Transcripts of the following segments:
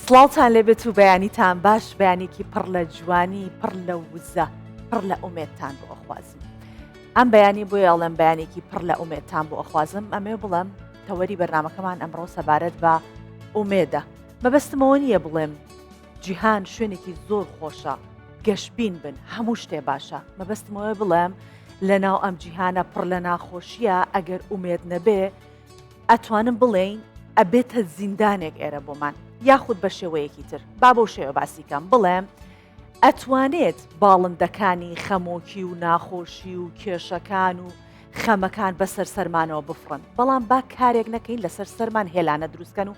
سڵاوتان لێبێت و بەیانیتان باش بەیانێکی پڕ لە جوانی پڕ لە وزە پڕ لە ئومێتتان بۆ ئەخوازم ئەم بەیانی بۆ یاڵم بەیانێکی پڕ لە ئومێتتان بۆ ئەخوازم ئەمێ بڵم تەوەری بەرنمەکەمان ئەمڕۆ سەبارەت بە ئومێدە مەبەستمەوە نییە بڵێم جیهان شوێنێکی زۆر خۆشە گەشبین بن هەموو شتێ باشە مەبەستمەوەی بڵێم لە ناو ئەم جیهانە پڕ لە ناخۆشیە ئەگەر ئومێد نەبێ ئەتوانم بڵێین ئەبێتە زیندانێک ئێرە بۆمان یاخود بە شێوەیەکی تر با بۆ شێوە باسیکەم بڵێم ئەتوانێت باڵندەکانی خەمۆکی و ناخۆشی و کێشەکان و خەمەکان بەسەر سەرمانەوە بفڕن بەڵام با کارێک نەکەین لەسەر سەرمان هێلانە دروستکەن و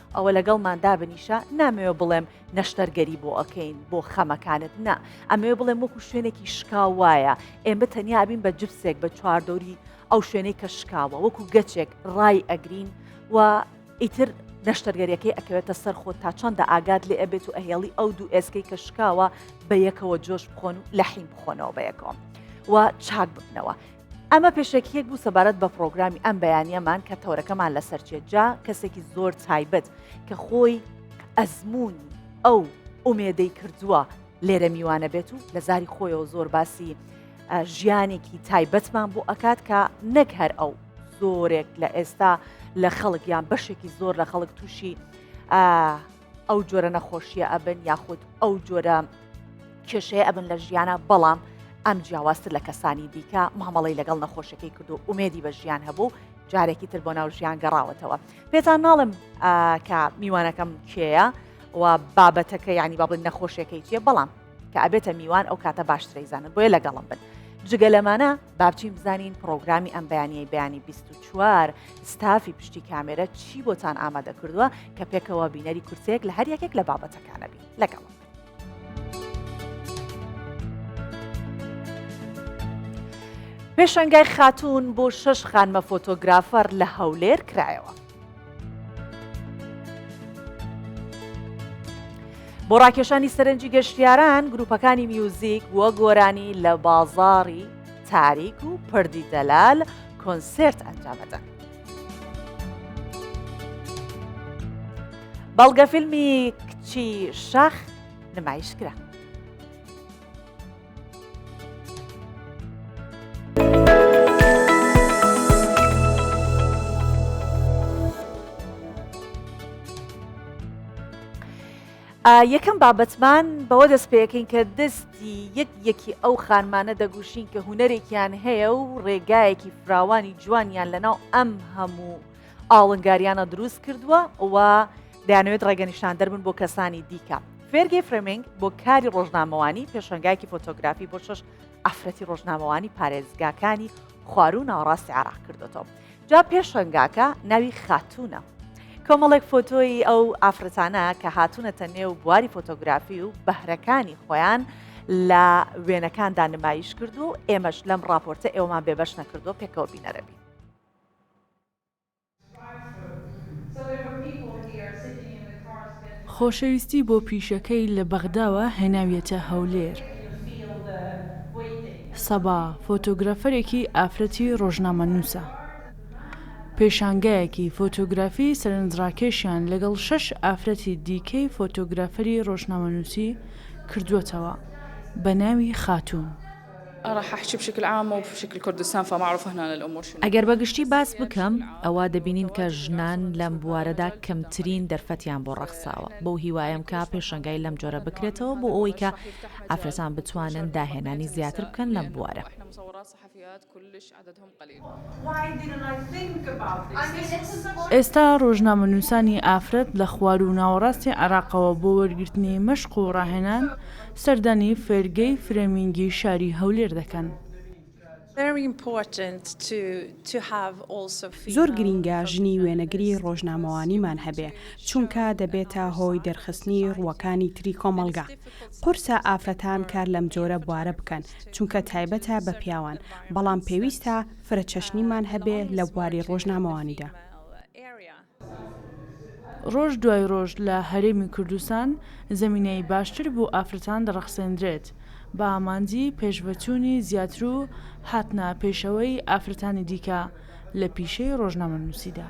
ئەوە لەگەڵمان دابنیشە، نامەوێ بڵێم نەشتەرگەری بۆ ئەکەین بۆ خەمەکانت نا، ئەمەوێ بڵێم وەکو شوێنێکی شکاو وایە، ئێمە تەنیا ئەبین بە جبسێک بە چواردەوری ئەو شوێنەی کە شکاوە وەکو گەچێک ڕای ئەگرین و ئیتر نەشتەرگەریەکەی ئەکەوێتە سەر خۆت تا چەندە ئاگات لێ ئەبێت و ئەهێڵی ئەو دوو ئێسکەی کە شکاوە بە یەکەوە جۆش بخۆن و لە حیم بخۆنەوە بە یەکەوە و چاک ببنەوە ئەمە پێشەکیەک بوو سەبارەت بە پرۆگرامی ئەم بەیانیەمان کە تەورەکەمان لەسەر چێت جا کەسێکی زۆر تایبەت کە خۆی ئەزمونی ئەو ئومێدەی کردووە لێرە میوانە بێت و لە زاری خۆیەوە زۆر باسی ژیانێکی تایبەتمان بۆ ئەکات کە نەک هەر ئەو زۆرێک لە ئێستا لە خەڵک یان بەشێکی زۆر لە خەڵک تووشی ئەو جۆرە نەخۆشیە ئەبن یاخود ئەو جۆرە کێشەیە ئەبن لە ژیانە بەڵام ئەم جیاوازتر لە کەسانی دیکە مامەڵی لەگەڵ نەخۆشەکەی کردو ئومێدی بە ژیان هەبوو جارێکی تر بۆ ناو ژیان گەڕاوەتەوە پێتان ناڵم کە میوانەکەم کێە و بابەتەکە ینی بابن نەخۆشەکەی چێ بەڵام کە ئەبێتە میوان ئەو کاتە باشترەی زانن بۆیە لەگەڵم بن جگە لەمانە بابچین بزانین پرۆگرامی ئەم بەیانیی بەیانی 24 ستافی پشتی کامێرە چی بۆتان ئامادە کردووە کە پێکەوە بینەری کورتێک لە هەر یەکێک لە بابەتەکانەبی لەگەڵ پێشنگای خاتون بۆ شش خانمە فۆتۆگرافەر لە هەولێر کرایەوە بۆ ڕاکێشانی سەرنجی گەشتیاران گروپەکانی میوزیک وە گۆرانی لە بازاری تاریک و پردی دەلال کۆنسرت ئەنجامەدەن. بەڵگە فیلمی کچی شەخ نمایشکرا. یەکەم بابەتمان بەوە دەست پێەکەین کە دەستی یەک یەکی ئەو خانمانە دەگوشین کە هوەرێکیان هەیە و ڕێگایەکی فراوانی جوانیان لەناو ئەم هەموو ئاڵنگاریانە دروست کردووە و دەیانەوێت ڕێگەنیشاندەر بن بۆ کەسانی دیکە. فێرگی فرمینگ بۆ کاری ڕۆژنامەوانی پێشەنگایەکی فۆتۆگرافی بۆ شەش ئافرەتی ڕۆژنامەوانی پارێزگاکانی خوار و ناوەڕاستی عراق کردوەوە جا پێشەنگاکە ناوی خاتونە کۆمەڵێک فۆتۆی ئەو ئافرەتانە کە هاتوونەتە نێو بواری فۆتۆگرافی و بەهرەکانی خۆیان لە وێنەکاندا نمایش کرد و ئێمەش لەم راپۆرتە ئێوەمان بێبەش نەکردو پێکەوە بینەرەبی خۆشەویستی بۆ پیشەکەی لە بەغداوە هێناویەتە هەولێر سەبا، فۆتۆگرافەرێکی ئافرەتی ڕۆژنامەنووسە. پێشانگایەکی فۆتۆگرافی سەرنجڕاکێشیان لەگەڵ شەش ئافرەتی دیکەی فۆتۆگرافەری ڕۆژنامەنووسی کردووەتەوە بە ناوی خاتوون. ئەگەر بە گشتی باس بکەم، ئەوا دەبینین کە ژنان لەم بوارەدا کەمترین دەرفەتیان بۆ ڕەخساوە، بەو هیوایەم کە پێشەنگای لەم جۆرە بکرێتەوە بۆ ئەوەی کە ئافرەتان بتوانن داهێنانی زیاتر بکەن لەم بوارە. ئێستا ڕۆژنامەنووسانی ئافرەت لە خوار و ناوەڕاستی عێراقەوە بۆ وەرگرتنی مەشق و ڕاهێنان سەردانی فێرگەی فرێمینگی شاری هەولێر دەکەن. زۆر گرینگە ژنی وێنەگری ڕۆژنامەوانیمان هەبێ، چونکە دەبێتە هۆی دەرخستنی ڕووەکانی تری کۆمەڵگا. قورسە ئافرەتان کار لەم جۆرە بوارە بکەن، چونکە تایبەتە بە پیاوان، بەڵام پێویستە فرەچەشنیمان هەبێ لە بواری ڕۆژنامەوانیدا. ڕۆژ دوای ڕۆژ لە هەرێمی کوردستان زەمینەی باشتر بۆ ئافرەتان دەڕەخسێندرێت، بە ئامانجی پێشڤەچوونی زیاتر و هاتنە پێشەوەی ئافرەتانی دیکە لە پیشەی ڕۆژنامەنووسیدا.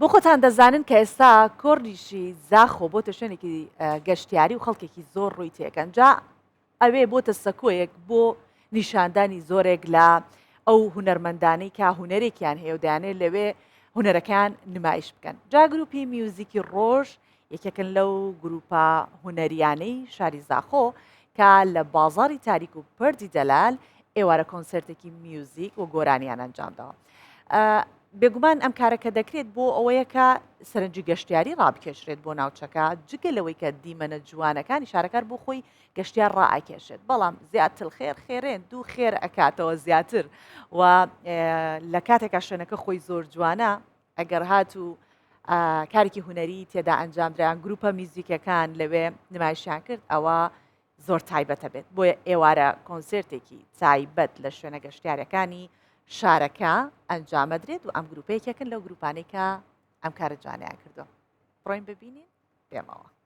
بۆ خۆتان دەزانن کە ئێستا کۆرنیشی زاخۆ بۆتە شوێنێکی گەشتیاری و خەڵکێکی زۆر ڕووی تێکەن جا ئەوێ بۆتە سەکۆیەک بۆ نیشاندانی زۆرێک لە ئەو هوەرمەندانەی کە هوەرێکیان هەیە و دەیانێت لەوێ هوەرەکان نمایش بکەن جا گروپی میوزیکی ڕۆژ یەکێکن لەو گروپە هونەرییانەی شاری زاخۆ کە لە بازاری تاریک و پردی دەلال ئێوارە کۆنسرتێکی میوزیک و گۆرانیان ئەنجامداوە بێگومان ئەم کارەکە دەکرێت بۆ ئەوەیە کە سەرنجی گەشتیاری ڕابکێشرێت بۆ ناوچەکە جگە لەوەی کە دیمەنە جوانەکانی شارەکار بۆ خۆی گەشتیار ڕائکێشێت بەڵام زیاتر خێر خێرێن دوو خێر ئەکاتەوە زیاتر و لە کاتێکا شوێنەکە خۆی زۆر جوانە ئەگەر هاتوو کارێکی هوەری تێدا ئەنجامدرایان گروپە میزیکەکان لەوێ نمایشیان کرد ئەوە زۆر تایبەتە بێت بۆیە ئێوارە کۆنسرتێکی تایبەت لە شوێنە گەشتارەکانی شارەکە ئەنجامەدرێت و ئەم گروپەیەکێکن لەو گروپانێکە ئەم کارە جوانیان کردو ڕۆین ببینین پێمەوە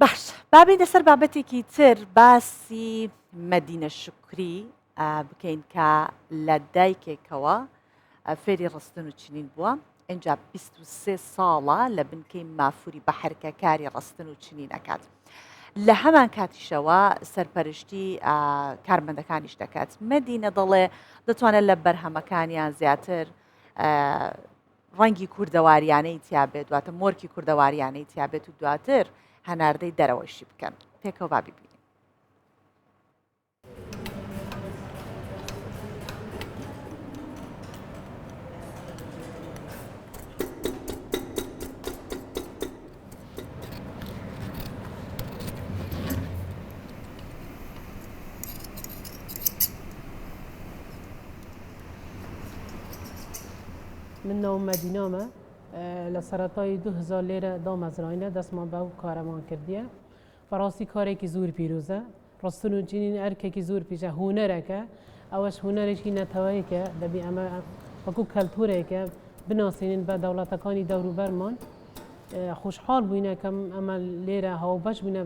باش بابینە سەر بابەتێکی تر باسی مەدینە شکری بکەین کە لە دایکێکەوە فێری ڕستن و چنین بووە ئەجا 23 ساڵە لە بنکەی مافوری بە حرکەکاری ڕستن و چنین ئەکات. لە هەمان کاتیشەوە سەرپەرشتی کارمەندەکانیش دەکات مەدینە دەڵێ دەتوانێت لە بەرهەمەکانیان زیاتر ڕەنگی کوردەواریانەی تیا بێت، دواتر مۆرکی کوردەواریانەی تیا بێت و دواتر هەناردەی دەرەوەشی بکەن. پێکەوە با بیبینین. من ناوم مەدینامە لە سەرەتای 2000 لێرە دامەزراینە دەستمان بەو کارەمان کردیە بەڕاستی کارێکی زۆر پیرۆزە ڕستن و جینین ئەرکێکی زور پیشە هونەرەکە ئەوەش هونەرێکی نەتەوەیکە دەبی ئەمە وەکو کەلتورێکە بناسیێنین بە دەوڵەتەکانی دەوروبەرمان خوشحاڵ بووینەکەم ئەمە لێرە هەو بەش بوونە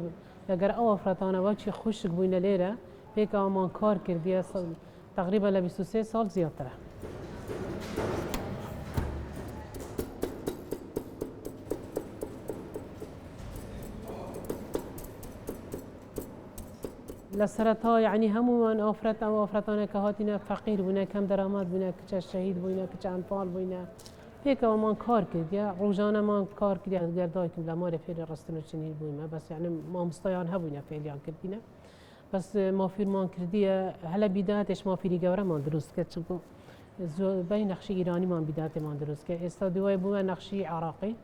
لەگەر ئەو ئەفرەتانەوە چی خوشک بووینە لێرە پێکەوەمان کار کردیە تەقریبەن لە بیست و سێ ساڵ زیاترە. لە سەرەتا یعنی هەمووان ئافرەت ئەو ئافرەتانە کە هاتینە فەقیر بوونە کەم دەرامات بوونە کچە شەهید بووینە کچە ئەمپال بووینە پێکەوەمان کار کردە ڕۆژانەمان کار کرد گەردایکم لە مارە فێری ڕستن و چنین بوویمە بەس یعنی مامستایان هەبووینە فێریان کردینە بەس مافیرمان کردیە هەلە بیداتێش مافیری گەورەمان دروست کرد چونکو زۆربەی نەخشی ئیرانیمان بیداتێمان دروست کرد ئێستا دوای بووە نەخشی عراقی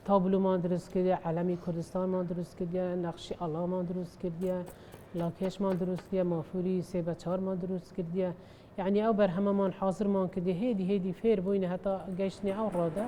تابلومان دروست کردە عەلەمی کوردستانمان دروست کردە نەخشی ئەڵامان دروست کردە لاکێشمان دروستە مافوری سێ بە چارمان دروست کردە یەعنی ئەو بەرهەمەمان حازرمان کردیە هێدی هێدی فێر بووینە هەتا گەیشتنی ئەو ڕۆدا.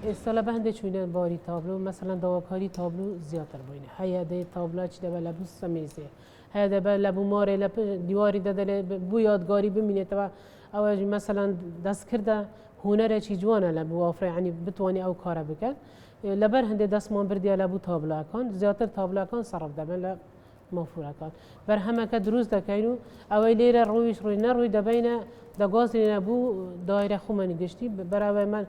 ئێستا لە بەندێک چوینە باری تابلو مەسەەن داواکاری تابلو زیاتر بووینە هەیە دەی تابلاچ دەبە لە بوو سەمیزێ هەیە دەبە لە بوومارێ لە دیواری دەدەێ بوو یادگاری بمینێتەوە ئەوە مەسەلەن دەستکردە هونەرێکی جوانە لە بوو ئەوفرەیانی بتوانانی ئەو کارە بکات لەبەر هەندێک دەستمان بردیە لە بوو تابلاکان زیاتر تابلاکان سەرف دەبن لە مەفورەکان بەرهەمەکە دروست دەکەین و ئەوەی لێرە ڕوویش ڕووی نەڕووی دەبینە دەگۆزینە بوو دایرە خومەنی گشتی بەراوێ من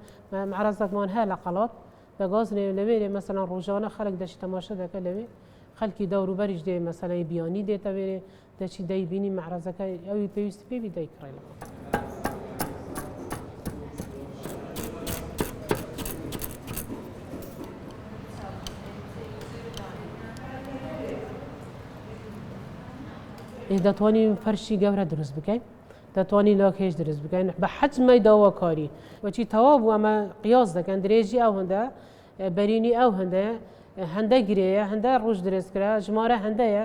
عرەزەکمان هەیە لە قەڵات دەگۆزنێ لەوێرێ مەسەلا ڕۆژانە خەلک دەشی تەماشە دەکە لەوێ خەلکی دەوروبەریش دێ مەسەلەی بیانی دێتەوێرێ دەچی دەیبینی مەعرەزەکە ئەوی پێویستی پێ بی دەیکڕێنەوە دەتوانین فەرشی گەورە دروست بکەین دەتوانین لۆکێش دروست بکەین بە حەجمەی داواکاری وەچی تەوا بوو ئەمە قیاس دەکەن درێژی ئەو هەندە بەرینی ئەو هەندەیە هەندە گرەیە هەندە ڕژ درێژکرا ژمارە هەندەیە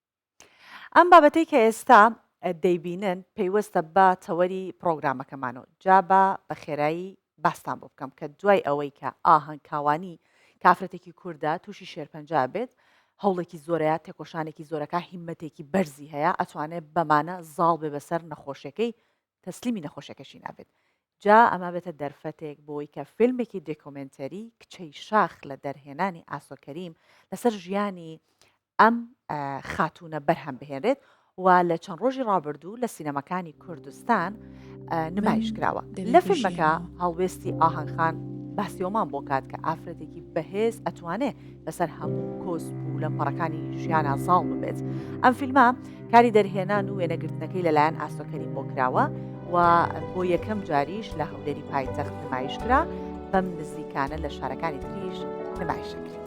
ئەم بابەتەی کە ئێستا دەیبینن پەیوەستە بە تەوەری پرۆگرامەکەمان و جا با بە خێرایی باستان بۆ بکەم کە دوای ئەوەی کە ئاهەنگ کاوانی کافرەتێکی کووردە تووشی شێرپەنجا بێت هەوڵێکی زۆرەیە تێکۆشانێکی زۆرەکە هیمەتێکی بەرزی هەیە ئەتوانێت بەمانە زاڵ بێ بەسەر نەخۆشەکەی تەسلیمی نەخۆشەکەشی نابێت جا ئەمە بێتە دەرفەتێک بۆی کە فیلمێکی دێکۆمنتەری کچەی شاخ لە دەرهێنانی ئاسۆکەریم لەسەر ژیانی ئەم خاتوونە بەرهەم بهێنرێت و لە چەند ڕۆژی ڕابردوو لە سینەماکانی کوردستان نمایش کراوە لە فیلمەکە هەڵوێستی ئاهنگخان باسیۆمان بۆ کات کە ئافرەتێکی بەهێز ئەتوانێ بەسەر هەموو کۆسپ و لە پەڕەکانی ژیانە زاڵ ببێت ئەم فیلمە کاری دەرهێنان و وێنەگرتنەکەی لەلایەن ئاسۆ کەریم بۆ کراوە و بۆ یەکەم جاریش لە هەولێری پایتەخت نمایش کرا بەم نزیکانە لە شارەکانی تریش نمایشەکرێت.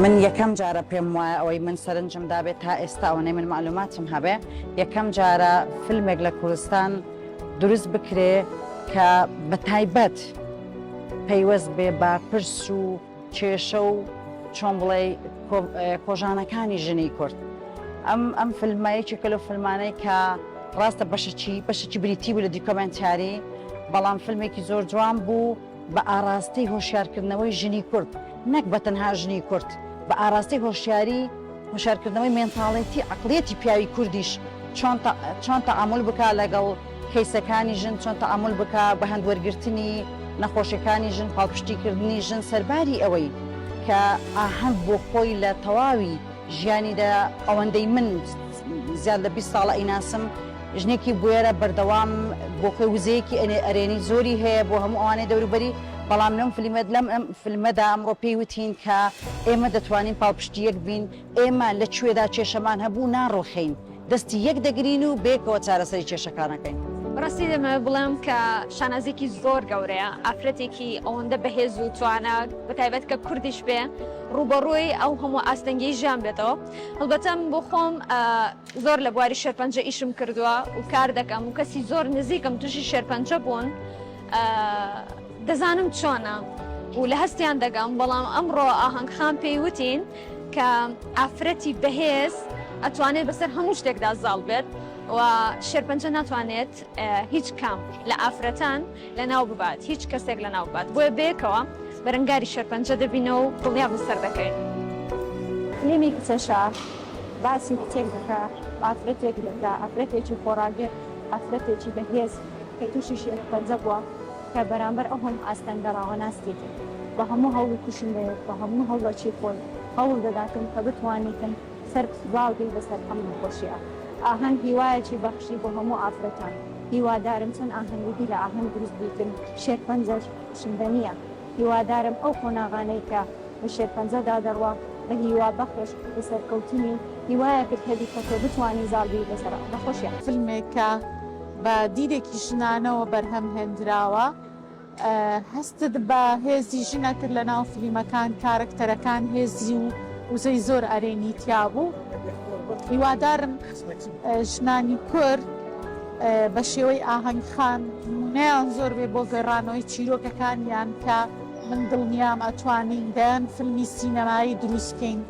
من یەکەم جارە پێم وایە ئەوەی من سەرنجم دابێت تا ئێستا ئەوەی من معلوماتم هەبێ یەکەم جارە فیلمێک لە کوردستان دروست بکرێ کە بە تایبەت پەیوەست بێ بە پرس و کێشە و چۆن بڵێ کۆژانەکانی ژنی کورد ئەم ئەم فلمایەکی کەلو فلمانەی کە ڕاستە بەشەچی بەشەچی بریتی بوو لە دیکۆمنتاری بەڵام فیلمێکی زۆر جوان بوو بە ئاراستەی هۆشیارکردنەوەی ژنی کورد نەک بە تەنها ژنی کورد بە ئاراستەی هۆشیاری هۆشیارکردنەوەی مێنتاڵێتی عەقڵیەتی پیاوی کوردیش چۆن چۆن تەعامول بکا لەگەڵ کەیسەکانی ژن چۆن تەعامول بکا بە هەند وەرگرتنی نەخۆشیەکانی ژن پاڵپشتیکردنی ژن سەرباری ئەوەی کە ئاهەنگ بۆ خۆی لە تەواوی ژیانیدا ئەوەندەی من زیاد لە بیست ساڵە ئەیناسم ژنێکی بوێرە بەردەوام بۆخۆی وزەیەکی ئەنێ ئەرێنی زۆری هەیە بۆ هەموو ئەوانەی دەوروبەری بەڵام لەم فلیمەت لەم ئەم فلمەدا ئەمڕۆ پێی وتین کە ئێمە دەتوانین پاڵپشتی یەک بین ئێمە لە کوێدا کێشەمان هەبوو ناڕوخێین دەستی یەک دەگرین و بەیەکەوە چارەسەری کێشەکانەکەین. بەڕاستی دەمەوێت بڵێم کە شانازیەکی زۆر گەورەیە ئافرەتێکی ئەوەندە بەهێز و توانا بەتایبەت کە کوردیش بێ ڕووبەڕووی ئەو هەموو ئاستەنگی ژیان بێتەوە هەڵبەتەم بۆ خۆم زۆر لە بواری شێرپەنجە ئیشم کردووە و کار دەکەم و کەسی زۆر نزیکم تووشی شێرپەنجە بوون دەزانم چۆنە و لە هەستیان دەگەم بەڵام ئەمڕۆ ئاهەنگ خان پێی وتین کە ئافرەتی بەهێز ئەتوانێت بەسەر هەموو شتێکدا زاڵ بێت و شێرپەنجە ناتوانێت هیچ کام لە ئافرەتان لەناو ببات هیچ کەسێک لەناو ببات بۆیە بەیەکەوە بەرەنگاری شێرپەنجە دەبینەوە و دڵنیابن سەر دەکەین. فلیمی کچەشا باسی کچێک دەکا ئافرەتێک دەکا ئافرەتێکی خۆڕاگر ئافرەتێکی بەهێز کە توشی شێرپەنجە بوە کە بەرامبەر ئەو هەموو ئاستەنگە ڕاوەناستی کرد بە هەموو هەوڵی کوشندەیەک بە هەموو هەوڵەکی خۆی هەوڵ دەداتن کە بتوانیتن سەرت سوزاو بی بەسەر ئەم نەخۆشیە ئاهەنگ هیوایەکی بەخشی بۆ هەموو ئافرەتان هیوادارم چەند ئاهەنگیدی لە ئاهەنگ دروست بیکن شێرپەنجەش شندە نیە هیوادارم ئەو قۆناغانەی کە بە شێرپەنجەدا دەڕوا بە هیوا بەخش و سەرکەوتنی هیوایەکت هەبی کە تۆ بتوانی زاڵ بی بەسەر ئەم نەخۆشیە. فلمێک کە بە دیدێکی ژنانەوە بەرهەم هێندراوە. هەستت بە هێزی ژنە کرد لە ناو فلیمەکان کارەکتەرەکان هێزی و وزەی زۆر ئەرێنی تیابوو هیوادارم ژنانی کورد بە شێوەی ئاهەنگ خان نیان زۆر بێ بۆ گەڕانەوەی چیرۆکەکانیان کە من دڵنیام ئەتوانین دەیان فلمی سینەمایی دروستکەین.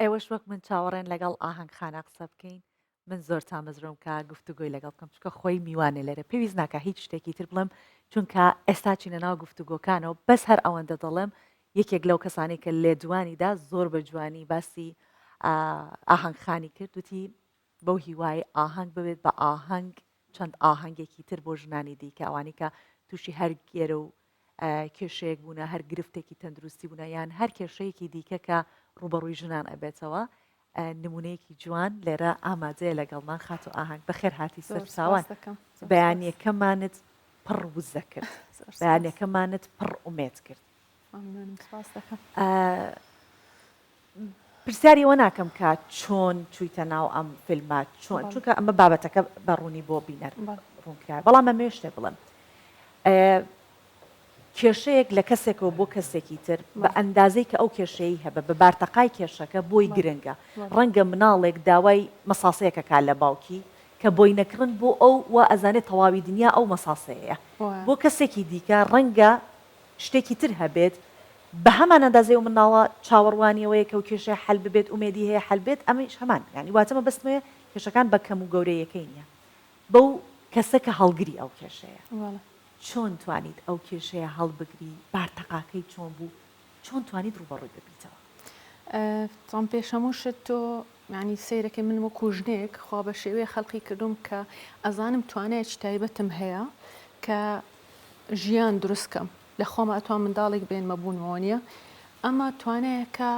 ئێوەش وەک من چاوەڕێن لەگەڵ ئاهەنگ خانە قسە بکەین من زۆر تامەزرۆم کە گفتوگۆی لەگەڵ بکەم چکە خۆی میوانێ لێرە پێویست ناکە هیچ شتێکی تر بڵێم چونکە ئێستا چینە ناو گفتوگۆکانەوە بەس هەر ئەوەندە دەڵێم یەکێک لەو کەسانی کە لێدوانیدا زۆر بە جوانی باسی ئاهەنگ خانی کرد وتی بەو هیوایەی ئاهەنگ ببێت بە ئاهەنگ چەند ئاهەنگێکی تر بۆ ژنانی دیکە ئەوانەی کە تووشی هەر گێرە و کێشەیەک بوونە هەر گرفتێکی تەندروستی بوونە یان هەر کێشەیەکی دیکە کە ڕوبەڕووی ژنان ئەبێتەوە نمونەیەکی جوان لێرە ئامادەیە لەگەڵمان خات و ئاهنگ بەخێر هاتی سەرچوان بەیانەکەمانت پڕ وزە کرد بەیانەکەمانت پڕ ئومێت کرد پرسیاری ئەوە ناکەم کە چۆن چوویتە ناو ئەم فیلمە چۆن چونکە ئەمە بابەتەکە بە ڕوونی بۆ بینەر ڕوونکرا بەڵام ئەمێ شتێ بڵم کێشەیەک لە کەسێکەوە بۆ کەسێکی تر بە ئەندازەی کە ئەو کێشەیە هەبە بە بارتەقای کێشەکە بۆی گرنگە ڕەنگە مناڵێک داوای مەساسەیەکە کا لە باوکی کە بۆی نەکڕن بۆ ئەو و ئەزانێت تەواوی دنیا ئەو مەساسەیە بۆ کەسێکی دیکە ڕەنگە شتێکی تر هەبێت بەهەمان ئەندازەی ئەو منداڵە چاوەڕوانی ئەوەیە کە ئەو کێشەیە حەل ببێت ئومێدی هەیە حەل بێت ئەمەیش هەمان یانی واتە مەبەستم ئەوەیە کێشەکان بە کەم و گەورەیەکەی نییە بەو کەسە کە هەڵگری ئەو کێشەیە وەڵا چۆن توانیت ئەو کێشەیە هەڵبگری بارتەقاکەی چۆن بوو چۆن توانیت ڕووبەڕووی ببیتەوە؟ ئە تام پێش هەموو شت تۆ یانی سەیرەکەی من وەکو ژنێک خوا بەشێوەیە خەلقی کردوم کە ئەزانم توانایەکی تایبەتم هەیە کە ژیان دروست کەم لە خۆمە ئەتوان منداڵێک بێنمە بوونمەوە نییە ئەمە توانایەکە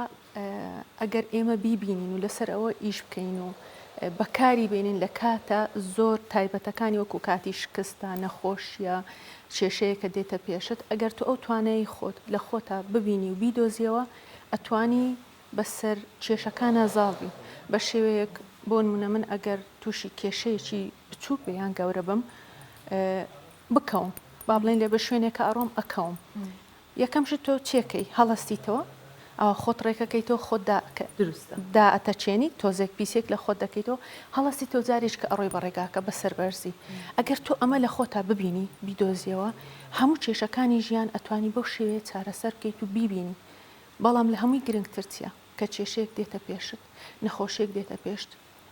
ئەگەر ئێمە بیبینین و لەسەر ئەوە ئیش بکەین و بەکاری بینین لە کاتە زۆر تایبەتەکانی وەکو کاتی شکستە نەخۆشیە کێشەیەکە دێتە پێشت ئەگەر تو ئەو توانایی خۆت لە خۆتا ببینی و بیدۆزیەوە ئەتوانی بەسەر کێشەکانا زاڵ بین بە شێوەیەک بۆنمونە من ئەگەر تووشی کێشەیەکی بچووک بێ یان گەورە بم بکەوم با بڵێن لێ بە شوێنێکە ئەڕۆم ئەکەوم یەکەم شت تۆ چێکەی هەڵستیتەوە ئەوە خۆت ڕێکەکەیتەوە خۆتدا دائەتەچێنی تۆزێک پیسێک لە خۆت دەکەیتەوە هەڵستی تۆ جارێک کە ئەڕۆی بەڕێگاکە بە سەربەرزی ئەگەر تۆ ئەمە لە خۆتا ببینی بیدۆزیەوە هەموو کێشەکانی ژیان ئەتوانی بەو شێوەیە چارەسەر بکەیت و بیبینی بەڵام لە هەمووی گرنگتر چیە؟ کە کێشەیەک دێتە پێشت، نەخۆشیەک دێتە پێشت،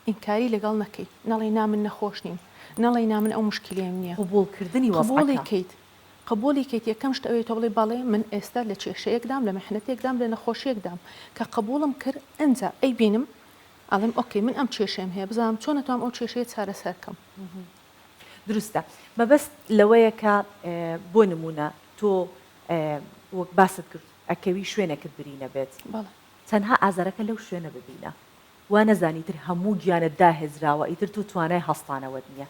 ئینکاری لەگەڵ نەکەی، نەڵێی نا من نەخۆش نیم، نەڵێی نا من ئەو موشکیلەیەم نیە، قبوڵ کردنی وەزعەکە. قبوڵی کەیت، قبوڵی کەیت، یەکەم شت ئەوەیە تۆ بڵێی بەڵێ من ئێستا لە کێشەیەکدام، لە میحنەتێکدام، لە نەخۆشیەکدام، کە قبوڵم کرد ئەنجا ئەیبینم ئەڵێم ئۆکەی من ئەم کێشەیەم هەیە بزانم چۆن ئەتوام ئەو کێشەیە چارەسەر کەم. دروستە، مەبەست لەوەیە کە بۆ نموونە تۆ وەک باست کرد ئەکەوی شوێنێکت بری نەبێت بەڵێ. تەنها ئازارەکە لەو شوێنە ببینە وا نەزانی تر هەموو گیانت داهێزراوە ئیتر تۆ توانای هەستانەوەت نیە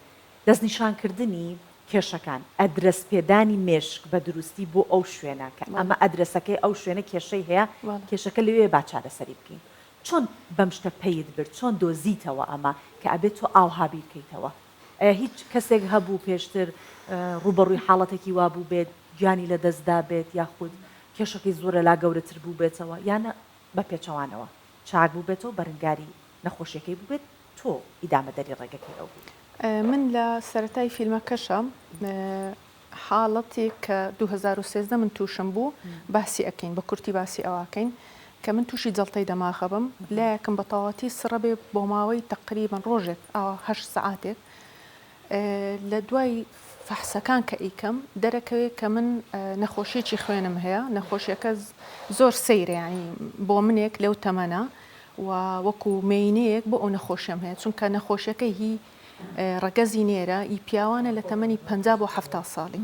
دەست نیشان کردنی کێشەکان ئەدرەس پێدانی مێشک بە دروستی بۆ ئەو شوێنە کە ئەمە ئەدرەسەکەی ئەو شوێنە کێشەی هەیە کێشەکە لەوێیە با چارەسەری بکەین چۆن بەم شتە پەیت برد چۆن دۆزیتەوە ئەمە کە ئەبێت تۆ ئاوها بیرکەیتەوە ئایا هیچ کەسێک هەبوو پێشتر ڕووبەڕووی حاڵەتێکی وا بووبێت گیانی لەدەست دابێت یاخود کێشەکەی زۆر لەلا گەورەتر بووبێتەوە یان بە پێچەوانەوە چاک بووبێتەوە بەرنگاری نەخۆشیەکەی بووبێت تۆ ئیدامەدەری ڕێگەکەی ئەو بیت؟ من لە سەرەتای فیلمەکەشا حاڵەتێک کە دوو هەزار و سێزدە من تووشم بوو باسی ئەکەین بە کورتی باسی ئەواکەین کە من تووشی جەڵتەی دەماغە بم لایەکم بە تەواتی سڕە بێ بۆ ماوەی تەقریبن ڕۆژێک ئاوا هەشت سعاتێک لە دوای فەحسەکان کە ئیکەم دەرەکەوێت کە من نەخۆشیێکی خوێنم هەیە نەخۆشیەکە زۆر سەیرەیانی بۆ منێک لەو تەمەە و وەکو مینەیەک بۆ ئەو نەخۆشیەم هەیە چونکە نەخۆشیەکە هی ڕەگەزی نێرە ی پیاوانە لە تەمەنی پەنجا بۆ حەفتا ساڵی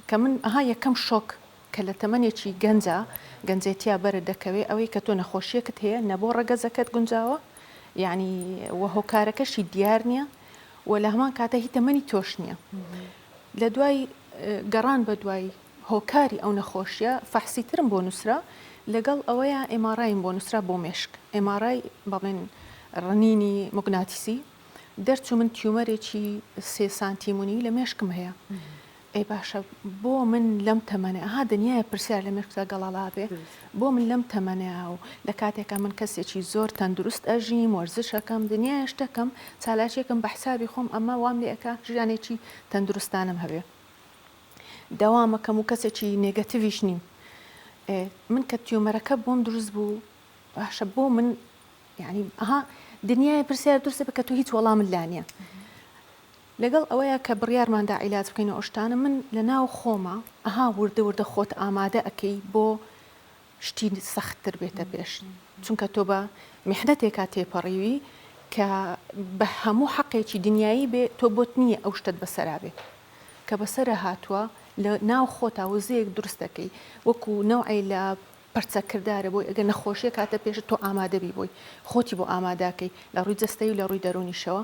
کە من ئەها یەکەم شۆک کە لە تەمەنێکی گەنجا گەنجێتیا بەرە دەکەوێ ئەوەی کە تۆ نەخۆشیەکت هەیە نە بۆ ڕەگەزەکەت گونجاوە یعنی وە هۆکارەکەشی دیار نییە و لە هەمان کاتە هی تەمەنی تۆش نییە لە دوای گەڕان بە دوای هۆکاری ئەو نەخۆشیە فەحسی ترم بۆ نووسرا لەگەڵ ئەوەیە ئێماڕایم بۆ نووسرا بۆ مێشک ئێماڕای بەڵێن ڕنینی مگناتیسی دەرچوو من تیومەرێکی سێ سانتیمونی لە مێشکم هەیە ئەی باشە بۆ من لەم تەمەنێ ئەها دنیای پرسیار لە مێشکدا گەڵاڵابێ بۆ من لەم تەمەنەیە و لە کاتێکە من کەسێکی زۆر تەندروست ئەژیم وەرزشەکەم دنیای شتەکەم چالاکیەکەم بە حسابی خۆم ئەمە وام لێ ئەکا ژیانێکی تەندروستانم هەبێ داوامەکەم و کەسێکی نێگەتیویش نیم من کە تیومەرەکە بۆم دروست بوو باشە بۆ من یانی ئەها دنیای پرسیار دروست بکە تۆ هیچ وەڵامت لا نییە لەگەڵ ئەوەیە کە بڕیارماندا عیلاج بکەین و ئەشتانە من لە ناو خۆمە ئەها وردە وردە خۆت ئامادە ئەەکەی بۆ شتی سەختتر بێتە پێش چونکە تۆ بە میحدەتێکا تێپەڕیوی کە بە هەموو حەقێکی دنیایی بێ تۆ بۆت نییە ئەو شتت بەسەرا بێت کە بەسرە هاتووە لە ناو خۆتا وزەیەک دروستەکەی وەکو نەوعی لە پەرچەکردارە بۆی، ئەگەر نەخۆشییەک هاتە پێشت تۆ ئامادەبی بۆی، خۆتی بۆ ئاماداکەی لە ڕووی جەستەیی و لە ڕووی دەروونیشەوە،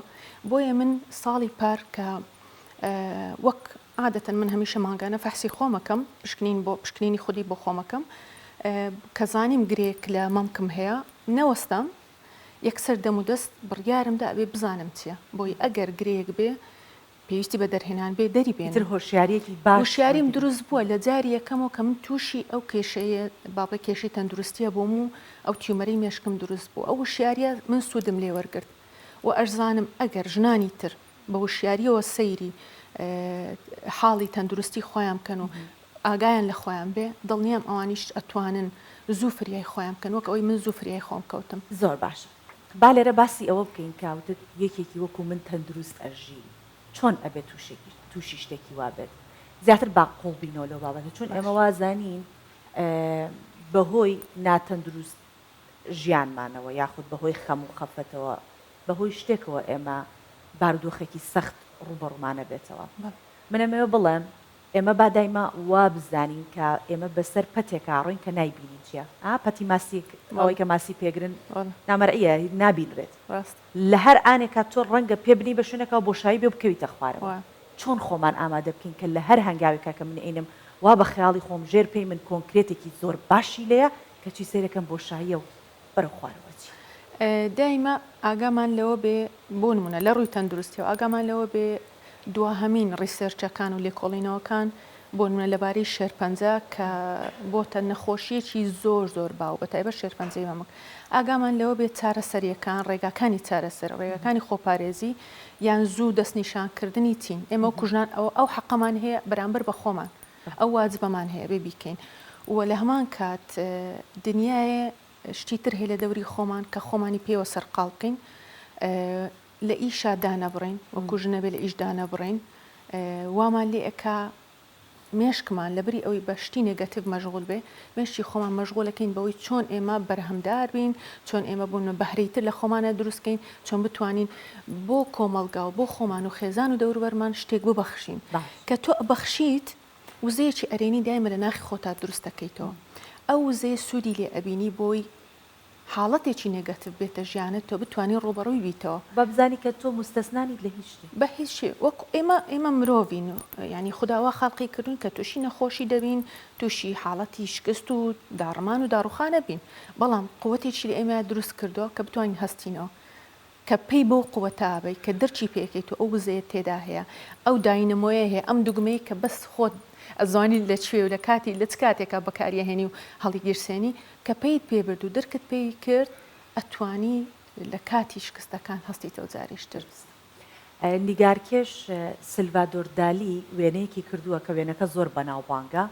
بۆیە من ساڵی پار کە وەک عادەتەن من هەمیشە مانگانە فەحسی خۆم ئەکەم، پشکنین بۆ پشکنینی خودی بۆ خۆم ئەکەم، کە زانیم گرێیەک لە مەمکم هەیە، نەوەستام یەکسەر دەم و دەست بڕیارم دا ئەبێ بزانم چییە، بۆی ئەگەر گرێیەک بێ پێویستی بە دەرهێنان بێ دەری بێنن. ئیتر هۆشیارییەکی باش. هۆشیاریم دروست بووە لە جاری یەکەمەوە کە من تووشی ئەو کێشەیە با بڵێ کێشەی تەندروستییە بووم و ئەو تیومەرەی مێشکم دروست بوو. ئەو وشیارییە من سوودم لێ وەرگرت و ئەشزانم ئەگەر ژنانی تر بە وشیارییەوە سەیری حاڵی تەندروستی خۆیان بکەن و ئاگایان لە خۆیان بێ دڵنیام ئەوانیش ئەتوانن زوو فریای خۆیان بکەن وەک ئەوەی من زوو فریای خۆم کەوتم. زۆر باشە. با لێرە باسی ئەوە بکەین کە وتت یەکێکی وەکو من تەندروست ئەژی چۆن ئەبێت توشێکی توشی شتێکی وا بێت زیاتر با قوڵ بینەوە لەو بابەتە چون ئێمە باش وازانین بە هۆی ناتەندروست ژیانمانەوە یاخود بە هۆی خەم و خەفەتەوە بە هۆی شتێکەوە ئێمە بارودۆخێکی سەخت ڕووبەڕوومان ئەبێتەوە بەڵێ من ئەمەوێ بڵێم ئێمە با دایمە وا بزانین کە ئێمە بە سەر پەتێکا ڕۆین کە نایبینین چیە ئا پەتی ماسیک ئەوەی کە ماسی پێگرن نامەرئیە نابینرێت لە هەر ئانێکا تۆ ڕەنگە پێ بنی بە شوێنێکا بۆشایی بێ بکەویتە خوارەوە چۆن خۆمان ئامادە بکەین کە لە هەر هەنگاوێکا کە من ئەینم وا بە خەیاڵی خۆم ژێر پێی من کۆنکرێتێکی زۆر باشی لێیە کەچی سەیرەکەم بۆشاییە و بەرەو خوارەوە چی؟ دایمە ئاگامان لەوە بێ بۆ نمونە لە ڕووی تەندروستیەوە ئاگامان لەوە بێ دواهەمین ڕیسێرچەکان و لێکۆڵینەوەکان بۆ نمونە لەبارەی شێرپەنجە کە بۆتە نەخۆشیەکی زۆر زۆر باو بە تایبە شێرپەنجەی مەمک ئاگامان لەوە بێ چارەسەریەکان ڕێگاکانی چارەسەر ڕێگەکانی خۆپارێزی یان زوو دەستنیشانکردنی چین ئێمە کوژنان ئەو ئەو حەقەمان هەیە بەرامبەر بە خۆمان ئەو واجبەمان هەیە بێ بیکەین و لە هەمان کات دنیایێ شتی تر هەیە لە دەوری خۆمان کە خۆمانی پێوە سەرقاڵ بکەین لە ئیشا دانەبڕین وەکو ژنەبێ لە ئیش دانەبڕین وامان لێ ئەکا مێشکمان لە بری ئەوی بە شتی نێگەتیڤ مەشغول بێ مێشکی خۆمان مەشغوڵەکەین بەوەی چۆن ئێمە بەرهەمدار بین، چۆن ئێمە بۆنمە بەهرەی تر لە خۆمانە دروست کەین، چۆن بتوانین بۆ کۆمەڵگا و بۆ خۆمان و خێزان و دەوروبەرمان شتێک ببەخشین. کە تۆ ئەبەخشیت، وزەیەکی ئەرێنی دایمە لە ناخی خۆتا دروست دەکەیتەوە. ئەو وزەیە سوودی لێ ئەبینی بۆی حاڵەتێکی نێگەتڤ بێتە ژیانت تۆ بتوانی ڕووبەڕووی بیتەوە. با بزانی کە تۆ موستەسنا نیت لە هیچ شتێ. بە هیچ شتێ وەک ئێمە ئێمە مرۆڤین و یانی خودا وا خەڵقی کردووین کە تووشی نەخۆشی دەبین تووشی حاڵەتی شکست و داڕمان و داڕوخان ئەبین بەڵام قوتێکی لە ئێمە دروست کردووە کە بتوانین هەستینەوە کە پەی بەو قوتە ئەبەی کە درکی پێکەیت و ئەو وزەیەت تێدا هەیە ئەو داینەمۆیە هەیە ئەم دوگمەی کە بەس خۆت ئەزانی لە کوێی و لە کاتی لە چ کاتێکا بەکاری ئەهێنی و هەڵیگیرسێنی کە پەیت پێ برد و درکت پێی کرد ئەتوانی لە کاتی شکستەکان هەستیتەوە جاریش تر نیگارکێش سلڤادۆر دالی وێنەیەکی کردووە کە وێنەکە زۆر بەناوبانگە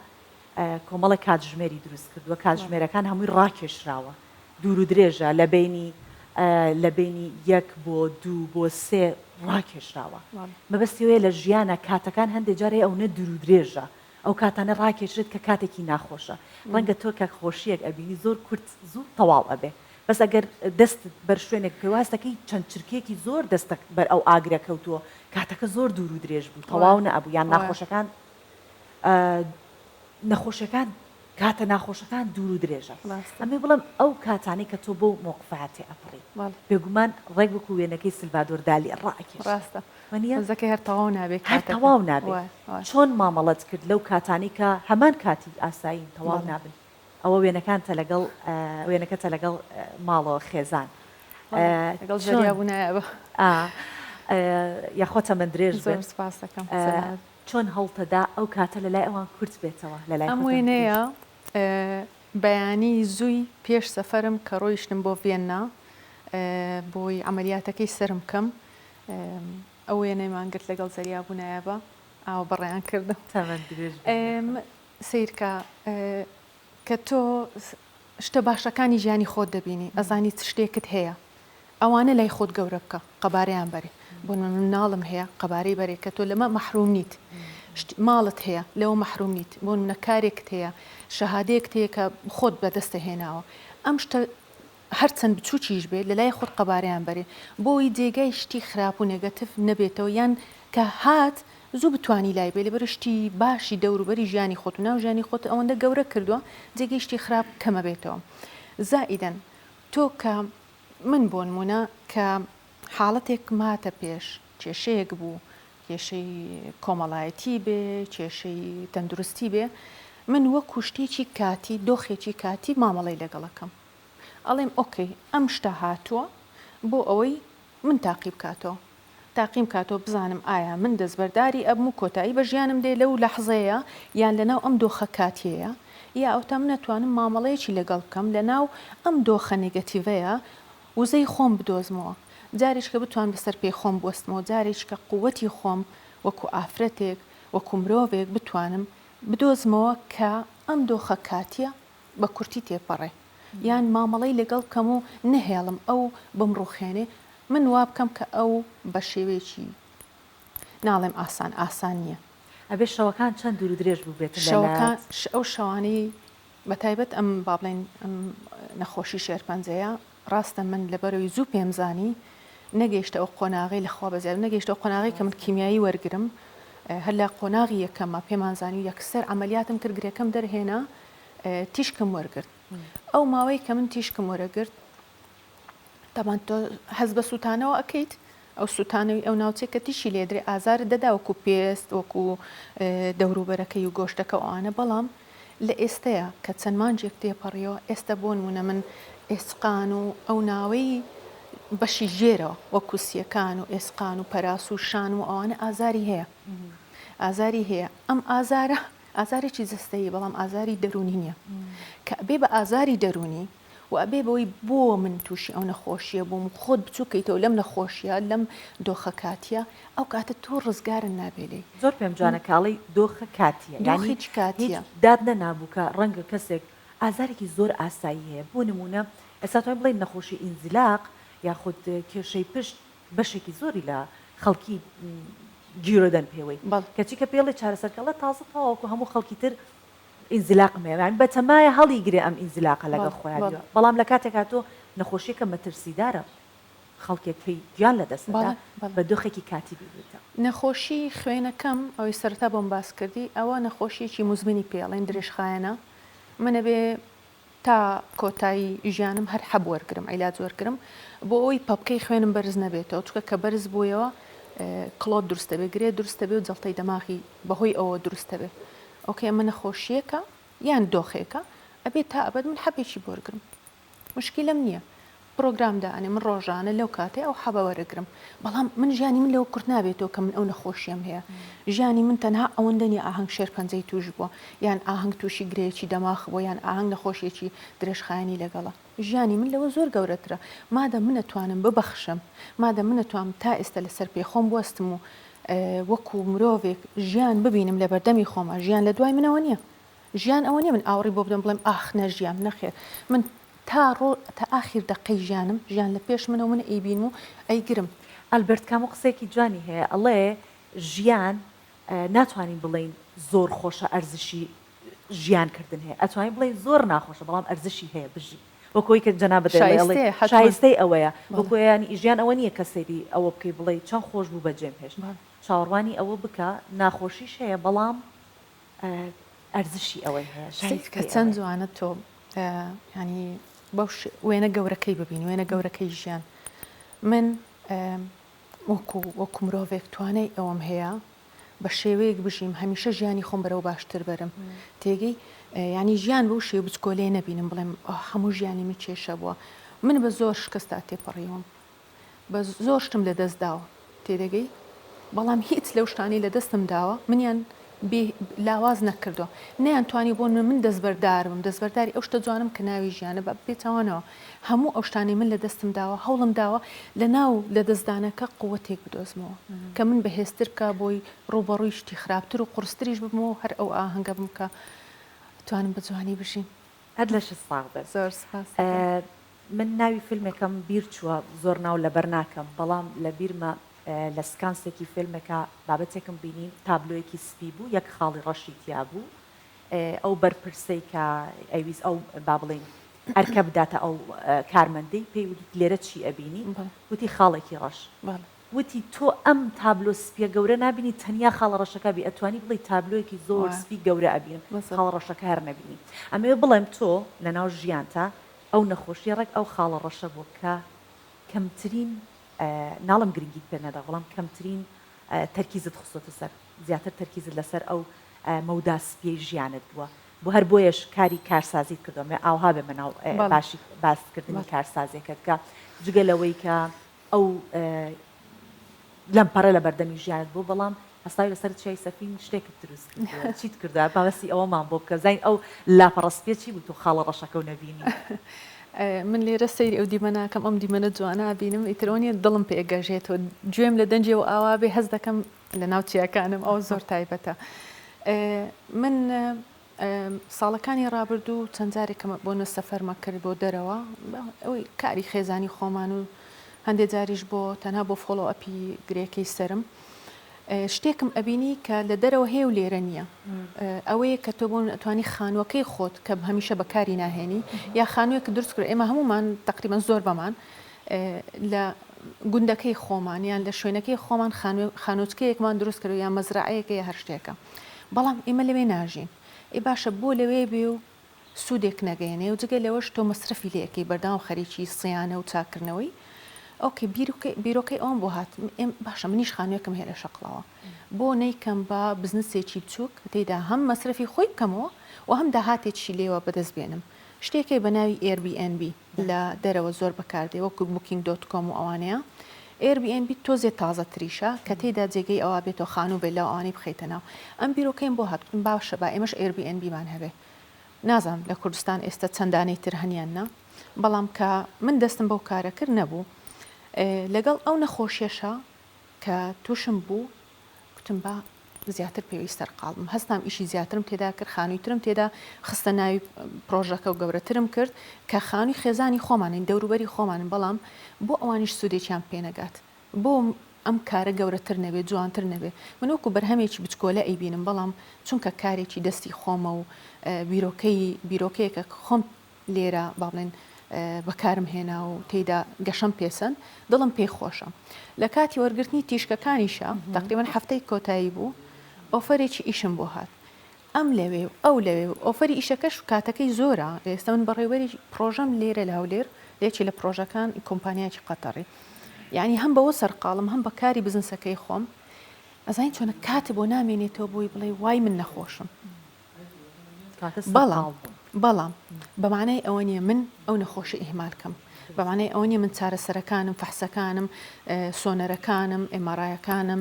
کۆمەڵێک کاتژمێری دروست کردووە کاتژمێرەکان هەمووی ڕاکێشراوە دوور و درێژە لە بەینی لە بەینی یەک بۆ دوو بۆ سێ ڕاکێشراوە مەبەستی ئەوەیە لە ژیانە کاتەکان هەندێک جار هەیە ئەونە دوور و درێژە ئەو کاتانە ڕاکێشێت کە کاتێکی ناخۆشە ڕەنگە تۆ کە خۆشیەک ئەبینی زۆر کورت زوو تەواو ئەبێ بەس ئەگەر دەستت بەر شوێنێک بکەی واز دەکەی چەند چرکەیەکی زۆر دەستە بەر ئەو ئاگرە کەوتووە کاتەکە زۆر دوور و درێژ بوو تەواو نەبوو یان ناخۆشەکان نەخۆشیەکان کاتە ناخۆشەکان دوور و درێژە ئەمێ بڵم ئەو کاتانی کە تۆ بۆ مۆقفاتی ئەپڕی بێگومان ڕێک وەکو وێنەکەی سلڤدۆر دالی ڕاکێ ڕاستە منیزەکە هەر تەواو نابێت هەر تەواو نابێت چۆن مامەڵەت کرد لەو کاتانی کە هەمان کاتی ئاسایین تەواو نابن ئەوە وێنەکانتە لەگەڵ وێنەکەتە لەگەڵ ماڵەوە خێزان لەگەڵ ژەریا بوونایە یاخۆتە من درێژ زۆر سپاسەکەم چۆن هەوڵتەدا ئەو کاتە لە لای ئەوان کورت بێتەوە لە لای ئەم خۆتان وێنەیە درێژ؟ بەیانی زووی پێش سەفەرم کە ڕۆیشتم بۆ ڤیەننا بۆی عەمەلیاتەکەی سەرم بکەم ئەو وێنەیمان گرت لەگەڵ زەریا بوو نایابە ئاوە بەڕێیان کردم. تەمەن درێژ بی یاخوا. سەیرکە کە تۆ شتە باشەکانی ژیانی خۆت دەبینی ئەزانی چ شتێکت هەیە ئەوانە لای خۆت گەورە بکە قەبارەیان بەرێ بۆ من مناڵم هەیە قەبارەی بەرێ کە تۆ لەمە مەحروم نیت ماڵت هەیە لەوە مەحروم نیت بۆ منە کارێکت هەیە شەهادەیەکت هەیە کە خۆت بەدەستە هێناوە ئەم شتە هەرچەند بچووکیش بێت لەلای خۆت قەبارەیان بەرێ بۆ ئەوەی جێگای شتی خراپ و نێگەتیڤ نەبێتەوە یان کە هات زوو بتوانی لای بێی لەبەرئەوەی شتی باشی دەوروبەری ژیانی خۆت و ناو ژیانی خۆت ئەوەندە گەورە کردووە جێگەی شتی خراپ کەمە بێتەوە زائیدەن تۆ کە من بۆ نموونە کە حاڵەتێکم هاتە پێش کێشەیەک بوو کێشەی کۆمەڵایەتی بێ کێشەی تەندروستی بێ من وەکو شتێکی کاتی دۆخێکی کاتی مامەڵەی لەگەڵەکەم ئەڵێم ئۆکەی ئەم شتە هاتووە بۆ ئەوەی من تاقی بکاتەوە تاقیم بکاتەوە بزانم ئایا من دەستبەرداری ئەبم و کۆتایی بە ژیانم دێ لەو لەحزەیە یان لەناو ئەم دۆخە کاتیەیە یا ئەوتا من ئەتوانم مامەڵەیەکی لەگەڵ بکەم لەناو ئەم دۆخە نێگەتیڤەیە وزەی خۆم بدۆزمەوە جارێککە بتوان بەسەر پێی خۆم بوەستمەوە جارێککە قووەتی خۆم وەکو ئافرەتێک وەکو مرۆڤێک بتوانم بدۆزمەوە کە ئەم دۆخە کاتیە بە کورتی تێپەڕێ یان مامەڵەی لەگەڵ بکەم و نەهێڵم ئەو بمڕوخێنێ من وا بکەم کە ئەو بە شێوەیەکی ناڵێم ئاسان ئاسان نییە. ئەبێ شەوەکان چەند دوور و درێژ بووبێت لەلات؟ شەوەکان ئەو شەوانەی بە تایبەت ئەم با بڵێین ئەم نەخۆشی شێرپەنجەیە ڕاستە من لەبەرەوی زوو پێم زانی نەگەیشتە ئەو قۆناغەی لە خوا بەزیاد نەگەیشتە ئەو قۆناغەی کە من کیمیایی وەرگرم هەر لە قۆناغی یەکەمە پێمان زانی و یەکسەر عملیاتم کرد گرێکەم دەرهێنا تیشکم وەرگرت ئەو ماوەی کە من تیشکم وەرەگرت تەبان تۆ حەز بە سووتانەوە ئەەکەیت ئەو سوتانەوی ئەو ناوچەی کە تیشی لێدرێ ئازارت دەدا وەکو پێست وەکو دەوروبەرەکەی و گۆشتەکە و ئەوانە بەڵام لە ئێستەیە کە چەند مانجێک تێپەڕیەوە ئێستە بۆنمونە من ئێسقان و ئەو ناوەی بەشی ژێرەوە وەکو سیەکان و ئێسقان و پەراس و شان و ئەوانە ئازاری هەیە ئازاری هەیە ئەم ئازارە ئازارێکی جستەیی بەڵام ئازاری دەرونی نییە کە بێ بە ئازاری دەرونی و ئەبێ بەوەی بۆ من تووشی ئەو نەخۆشیە بووم و خۆت بچوو کەیتەوە لەم نەخۆشیە لەم دۆخە کاتیە ئەو کاتە تۆ ڕزگارت نابێ لێی. زۆر پێم جوانە کە ئەڵێی دۆخە کاتیە یانی دۆخی چ هیچ کاتیە؟ دات نەنابوو کە ڕەنگە کەسێک ئازارێکی زۆر ئاسایی هەیە بۆ نموونە ئێستا توانین بڵێین نەخۆشی ئینزیلاق یاخود کێشەی پشت بەشێکی زۆری لە خەڵکی گیرۆدەن پێوەی بەڵێ. کەچی کە پێڵێ چارەسەرکەڵە تازە تەواوەکو هەموو خەڵکی تر ئینزیلاقم هەیە یانی بەتەمایە هەڵیگرێ ئەم ئینزیلاقە لەگەڵ خۆیا بێ بەڵام لە کاتێکا تۆ نەخۆشیەکە مەترسیدارە خەڵکێک کەی گیان لە دەست ئەدا بە دۆخێکی کاتی بینیتە. نەخۆشی خوێنەکەم ئەوەی سەرەتا بۆم باس کردی ئەوە نەخۆشیەکی موزمنی پێڵێن درێژخایەنە من ئەبێ تا کۆتایی ژیانم هەر حەب وەرگرم عیلاج وەرگرم بۆ ئەوەی پەپکەی خوێنم بەرز نەبێتەوە چکە کە بەرز بوویەوە کڵۆت دروستە بێ گرێ دروستە بێ و جڵتەی دەماغی بەهۆی ئەوە دروستە بێ ئۆکێ ئەمە نەخۆشیەکە یان دۆخێکە ئەبێت تا ئەبد من حەبێکی بۆرگرم مشکیلم نییە پرۆگرام دانێ من ڕۆژانە لەو کاتەی ئەو حەبە وەرەگرم بەڵام من ژیانی من لەوە کورت نابێتەوە کە من ئەو نەخۆشیەم هەیە ژیانی من تەنها ئەوەندە نیە ئاهەنگ شێرپەنجەی توش بووە یان ئاهەنگ تووشی گرێیەکی دەماخ بووە یان ئاهەنگ نەخۆشیەکی درێژخایەنی لەگەڵە ژیانی من لەوە زۆر گەورەترە مادەم من ئەتوانم ببەخشم مادەم من ئەتوانم تا ئێستا لەسەر پێی خۆم بوەستم و وەکو مرۆڤێک ژیان ببینم لە بەردەمی خۆما ژیان لە دوای منەوە نییە ژیان ئەوە نیە من ئاوڕی بۆ بدەم بڵێم ئاخ نەژیام نەخێر من تا ڕۆ تا ئاخیر دەقەی ژیانم ژیان لە پێش منە و من ئەیبینم و ئەیگرم. ئەلبەرت کامو قسەیەکی جوانی هەیە ئەڵێ ژیان ناتوانین بڵێین زۆر خۆشە ئەرزشی ژیان کردن هەیە ئەتوانین بڵێین زۆر ناخۆشە بەڵام ئەرزشی هەیە بژی وەکو ئەوی کە جەنابت دەڵێ ئەڵێ شایستەیە حەتمەن شایستەی ئەوەیە وەکو بەڵێ یانی ژیان ئەوە نیە کە سەیری ئەوە بکەی بڵێی چەن خۆش بوو بە جێم هێشت بەڵێ. چاوەڕوانی ئەوە بکە ناخۆشیش هەیە بەڵام ئەرزشی ئەوەی هەیە شای فکری ئەوەیە. چەند جوانە تۆ یانی بەو وێنە گەورەکەی ببین وێنە گەورەکەی ژیان من وەکو وەکو مرۆڤێک توانای ئەوەم هەیە بە شێوەیەک بژیم هەمیشە ژیانی خۆم بەرەو باشتر بەرم تێگەی ینی ژیان بەو شێ بچکۆلێ نەبینم بڵێم هەموو ژیانی من کێشە بووە من بە زۆر شکستا تێپەڕیوم بە زۆر شتم لە دەست داوە تێدەگەی بەڵام هیچ لەو شتانەی لە دەستم داوە منیان بێ لاواز نەکردو نیان توانی بۆن من من دەستبەردارم دەستبەرداری ئەو شتە جوانم کە ناوی ژیانە بە پێچوانەوە هەموو ئەو شتانی من لە دەستم داوە هەوڵم داوە لە ناو لە دەستدانەکە قوتێک بدۆزمەوە کە من بەهێزتر بکە بۆی ڕوبەڕووی شتی خراپتر و قرستریش ببمەوە هەر ئەو ئاهەنگە بم کە توانم بە جوانی بژین هەر لەشت ساغ بێت زۆر سپاس من ناوی فیلمێکم بیر چووە زۆر ناو لەبەر ناکەم بەڵام لە بیرمە لە سکانسێکی فیلمێکا بابەتێکم بینی تابلۆیەکی سپی بوو یەک خاڵی ڕەشی تیا بوو ئەو بەرپرسەی کە ئەویست ئەو با بڵێین ئەرکە بداتە ئەو کارمەندەی پێی وت لێرە چی ئەبینی وتی خاڵێکی ڕەش وتی تۆ ئەم تابلۆ سپیە گەورە نبینی تەنیا خاڵە ڕەشەکە بی ئەتوانی بڵی تابلۆیەکی زۆر سپی گەورە ئەبینم خاڵ ڕەشەکە هەر نبینی ئەمەوێ بڵێم تۆ لە ناو ژیانتا ئەو نەخۆشیە ڕێک ئەو خاڵە ڕەشە بووە کە کەمترین ناڵێم گرنگیت پێ نەدا بەڵام کەمترین تەرکیزت خستۆتە سەر زیاتر تەرکیزت لەسەر ئەو مەودا سپیەی ژیانت بووە بۆ هەر بۆیەش کاری کارسازیت کردوە مێ ئاوها بێ مەناو باشی باستکردنی کارسازیەکەت کە جگە لەوەی کە ئەو لەمپەڕێ لە بەردەمی ژیانت بوو بەڵام هەستاوی لەسەر چیای سەفین شتێکت دروست کردووە چیت کردووە باسی ئەوەمان بۆ بکە زین ئەو لاپەڕە سپیە چی بوو تۆ خاڵە ڕەشەکە و نەبینی من لێرە سەیری ئەو دیمە ناکەم ئەم دیمەنە جوانە بینم ئیتر ئەوە نیە دڵم پێ گەژێتەوە گوێم لە دەنجی و ئاوا بێ هەست دەکەم لە ناو چیاکانم ئەو زۆر تایبەتە من ساڵەکانی ڕابردوو چەند جارێکم بۆ نە سەفەرمە کرد بۆ دەرەوە ئەوی کاری خێزانی خۆمان و هەندێ جاریش بۆ تەنها بۆ فۆڵۆ ئەپی گرێکەی سرم شتێکم ئەبینی کە لە دەرەوە هەیە و لێرە نییە ئەوەیە کە تۆ بۆ من ئەتوانی خانووەکەی خۆت کە هەمیشە بەکاری ناهێنی یا خانووێک دروست کرد ئێمە هەمومان تقریبان زۆر بەمان لە گوندەکەی خۆمان یان لە شوێنەکەی خۆمان خانوچکەیەکمان دروست کرد یا مەزرعەیەکە یا هەر شتێکە بەڵام ئیمە لەوێ ناژین ئەی باشە بۆ لەوێ بێ و سوودێک نەگەێنێ و جگە لەوەش تۆ مەسرەفی لەکەی بەرداوام خەریکی سیانە و چاکردنەوەی ئۆکەی بیرۆکەی ئەوم بۆ هات باشە منیش خانوێکم هەیە لە شەقڵەوە بۆ نەیکەم بە بزنسێکی بچووک تێدا هەم مەسرەفی خۆی بکەمەوە و هەم داهاتێکی لێوە بەدەست بێنم شتێکی بە ناوی ئێربی ئەنبی لە دەرەوە زۆر بەکاردێ وەکو بوکینگ دۆت کۆم و ئەوانەیە ئێر بی ئێن بی تۆزێ تازە تریشە کە تێیدا جێگەی ئەوا بێتەوە خانوو بێ لاو ئەوانەی بخەیتە ناو ئەم بیرۆکەیم بۆ هات گوتم باشە با ئێمەش ئێر بی ئێن بیمان هەبێ نازانم لە کوردستان ئێستە چەندانەی تر هەن یان نا بەڵام کە من دەستم بەو کارە کرد نەبوو لەگەڵ ئەو نەخۆشیەشە کە تووشم بوو گوتم با زیاتر پێویی سەرقاڵ بم، هەستام ئیشی زیاترم تێدا کرد، خانووی ترم تێدا خستە ناوی پرۆژەکە و گەورەترم کرد، کە خانووی خێزانی خۆمانین، دەوروبەری خۆمانن، بەڵام بۆ ئەوانیش سوودێکیان پێ نەگات؟ بۆ ئەم کارە گەورەتر نەبێ، جوانتر نەبێ؟ من وەکو بەرهەمێکی بچکۆلە ئەیبینم، بەڵام چونکە کارێکی دەستی خۆمە و بیرۆکەی بیرۆکەیەکە کە خۆم لێرە با بڵێن بەکارم هێنا و تێیدا گەشەم پێسەن دڵم پێی خۆشە لە کاتی وەرگرتنی تیشکەکانیشە تقریبان هەفتەی کۆتایی بوو ئۆفەرێکی ئیشم بۆ هات ئەم لەوێ و ئەو لەوێ و ئۆفەری ئیشەکەش و کاتەکەی زۆرە ئێستا من بەڕێوەری پرۆژەم لێرە لە هەولێر لێکی لە پرۆژەکان کۆمپانیاکی قەتەڕی یعنی هەم بەوە سەرقاڵم هەم بەکاری بزنسەکەی خۆم ئەزانین چۆنە کات بۆ نامێنێتەوە بۆی بڵێ وای من نەخۆشم بەڵام بەڵام بە مانای ئەوە نیە من ئەو نەخۆشی ئیهمال کەم بە مانای ئەوە نیە من چارەسەرەکانم فەحسەکانم سۆنەرەکانم ئێمارایەکانم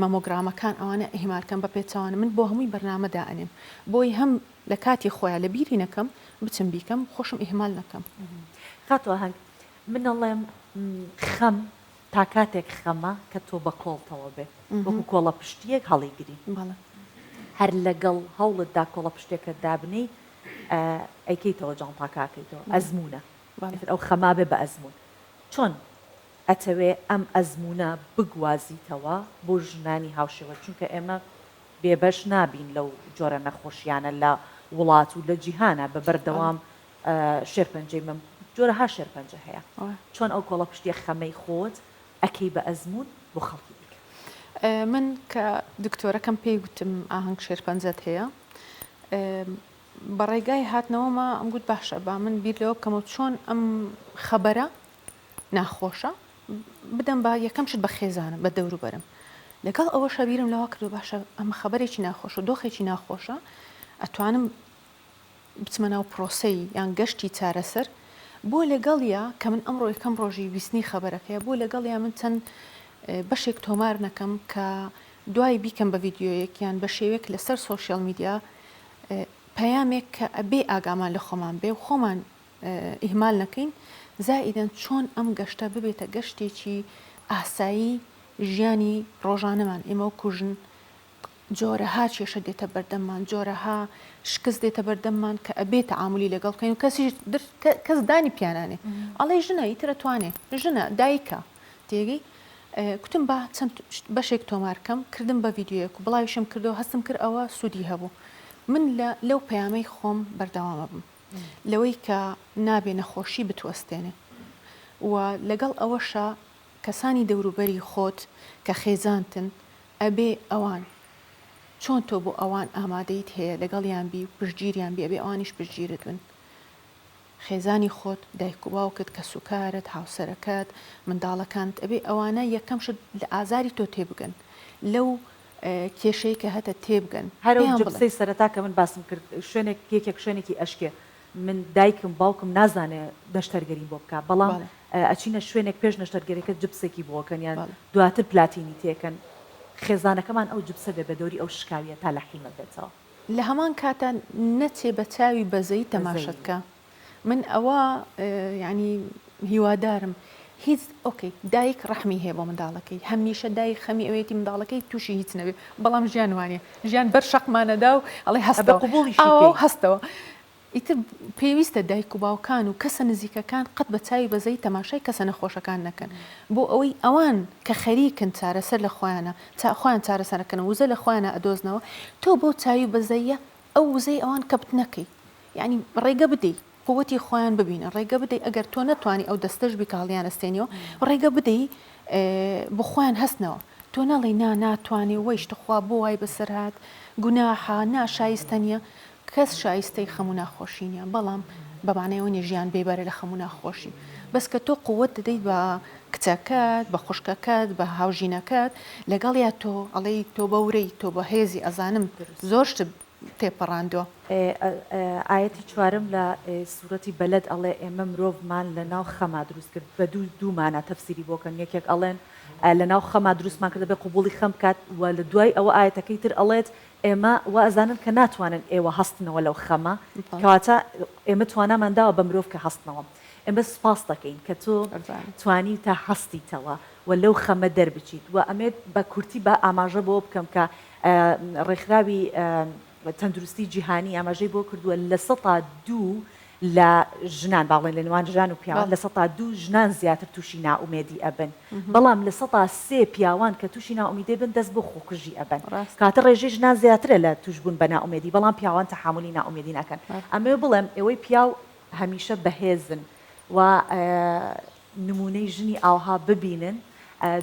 مەمۆگرامەکان ئەوانە ئیهمالکەم بە پێچوانە من بۆ هەمووی بەرنمەدا ئەنێم بۆی هەم لە کاتی خۆیان لە بیری نەکەم بچم بیکەم خۆشم ئیهمال نەکەم کاتوە هەنگ من ئەڵێم خەم تا کاتێک خەمە کە تۆ بە کۆڵتەوە بێ وەکو کۆڵەپشتییەک هەڵیگری. هەر لەگەڵ هەوڵتدا کۆڵەپشتێکەت دابنێی ئەیکەیتەوە جانتاکە ئەکەیتەوە. ئەزموونە. ئیتر ئەو خەما بێ بە ئەزموون. چۆن ئەتەوێ ئەم ئەزموونە بگوازیتەوە بۆ ژنانی هاوشێوەت؟ چونکە ئێمە بێبەش نابین لەو جۆرە نەخۆشییانە لە وڵات و لە جیهانا بە بەردەوام. شێرپەنجەی مەم جۆرەها شێرپەنجە هەیە چۆن ئەو کۆڵەپشتیە خەمەی خۆت ئەکەی بە ئەزموون بۆ خەڵکی دیکە. من کە دکتۆرەکەم پێی گوتم ئاهەنگ شێرپەنجەت هەیە بە ڕێگای هاتنەوەما ئەم گوت باشە با من بیر لەوە بکەمەوە چۆن ئەم خەبەرە ناخۆشە بدەم بە یەکەم شت بە خێزانم بە دەوروبەرم لەگەڵ ئەوە شەبیرم لەوە کردو باشە ئەمە خەبەرێکی ناخۆشە دۆخێکی ناخۆشە ئەتوانم بچمە ناو پرۆسەی یان گەشتی چارەسەر بۆ لەگەڵیا کە من ئەمڕۆ یەکەم ڕۆژی بیستنی خەبەرەکەیە بۆ لەگەڵیا من چەند بەشێک تۆمار نەکەم کە دوای بیکەم بە ڤیددیویەک یان بە شێوێک لەسەر سوۆسیال میدیا پەیامێک کە ئەبێ ئاگامان لە خۆمان بێ و خۆمان ئیهمال نەکەین زائیدەن چۆن ئەم گەشتە ببێتە گەشتێکی ئاسایی ژیانی ڕۆژانەمان ئێمە و کوژن جۆرەها کێشە دێتە بەردەممان، جۆرەها شکست دێتە بەردەممان کە ئەبێ تەعامولی لەگەڵ بکەین و کەسیش در کەس دانی پیا نانێ ئەڵێ ژنە ئیتر ئەتوانێ، ژنە، دایکە، تێگەی؟ کوتم با چەند بەشێک تۆمار کەم، کردم بە ڤیدیۆیەک و بڵاویشم کردەوە، هەستم کرد ئەوە سوودی هەبوو. من لە لەو پەیامەی خۆم بەردەوام ئەبم لەوەی کە نابێ نەخۆشی بتوەستێنێ و لەگەڵ ئەوەشا کەسانی دەوروبەری خۆت کە خێزانتن ئەبێ ئەوان چۆن تۆ بۆ ئەوان ئامادەیت هەیە لەگەڵیان بی و پشتگیریان بی ئەبێ ئەوانیش پشتگیرت بن خێزانی خۆت دایک و باوکت کەس و کارت هاوسەرەکەت منداڵەکانت ئەبێ ئەوانە یەکەم شت لە ئازاری تۆ تێبگەن لەو کێشەی کە هەتە تێبگەن هەرەو پێیان بڵێ. جبسەی سەرەتا کە من باسم کرد شوێنێک یەکێک شوێنێکی ئەشکێ من دایکم باوکم نازانێ نەشتەرگەریم بۆ بکا بەڵام ئەچینە شوێنێک پێش نەشتەرگەرێکە جبسێکی بۆکەن یان دواتر پلاتینی تێکەن خێزانەکەمان ئەو جبسە بێ بەدەوری ئەو شکاویە تا لە حیمە بێتەوە. لە هەمان کاتا نەچێ بە چاوی بەزەیی تەماشەت کا من ئەوە یانی. هیوادارم هیچ ئۆکەی دایک ڕەحمی هەیە بۆ منداڵەکەی هەمیشە دایک خەمی ئەوێتی منداڵەکەی تووشی هیچ نەبێ بەڵام ژیان وانە ژیان بەر شەقمانەدا و ئەڵێ هەستە قوبولی ئاوا هەستەوە ئیتر پێویستە دایک و باوکان و کەسە نزیکەکان قەت بە چاوی بەزەی تەماشای کەسە نەخۆشەکان نەکەن بۆ ئەوەی ئەوان کە خەریکن چارەسەر لە خۆیانە تا خۆیان چارەسەرەکەن وزە لە خۆیانە ئەدۆزنەوە تۆ بۆ چاوی بەزەیە ئەو وزەی ئەوان کەپت نەکەی یعنی ڕێگە بدەیت قوتی خۆیان ببینن ڕێگە بدەی ئەگەر تۆ نەتوانی ئەو دەستەش بیکە هەڵیانەستێنیەوە ڕێگە بدەی بۆ خۆیان هەستنەوە تۆ نەڵی نا ناتوانێ وەیش تخوا بۆ وای بەسەر هاات گوناحا نا شایستە نیە کەس شایستەی خەمو ناخۆشی نیە بەڵام بەمانەوە نیە ژیان بێبەرە لە خەمو ناخۆشی بەس کە تۆ قوت دەدەیت بە کچەکەت بە خوشکەکەت بە هاوژینەکەت لەگەڵ یا تۆ ئەڵی تۆ بەورەی تۆ بە هێزی ئەزانم زۆر شت تێپەڕاندوە. ئێ ئایەتی چوارەم لە سورەتی بەلەد ئەڵێ ئێمە مرۆڤمان لە ناو خەما دروست کرد بە دوو دوو مانا تەفسیری بۆ کەن یەکێک ئەڵێن لە ناو خەما دروستمان کردە بێ قبوڵی خەم بکات وە لە دوای ئەوە ئایەتەکەی تر ئەڵێت ئێمە وا ئەزانن کە ناتوانن ئێوە هەستنەوە لەو خەمە کەواتە ئێمە توانامان داوە بە مرۆڤ کە هەستنەوە ئێمە سوپاست دەکەین کە تۆ توانیوتە هەستیتەوە وە لەو خەمە دەربچیت وە ئەمێ بە کورتی با ئاماژە بەوە بکەم کە ڕێکخراوی تەندروستی جیهانی ئاماژەی بۆ کردووە لە سەتا دوو لە ژنان باڵێن لە نێوان ژان و پیاوان لە سەتا دوو ژنان زیاتر تووشی نائومێدی ئەبن بەڵام لە سەتا سێ پیاوان کە تووشی نائومیدی بن دەست بۆ خۆکوژی ئەبن کاتە ڕێژەی ژنان زیاترە لە تووشبوون بە نائومێدی بەڵام پیاوان تەحامولی نائومێدی ناکەن ئەمەوێ بڵێم ئێوەی پیاو هەمیشە بەهێزن و نمونەی ژنی ئاوها ببینن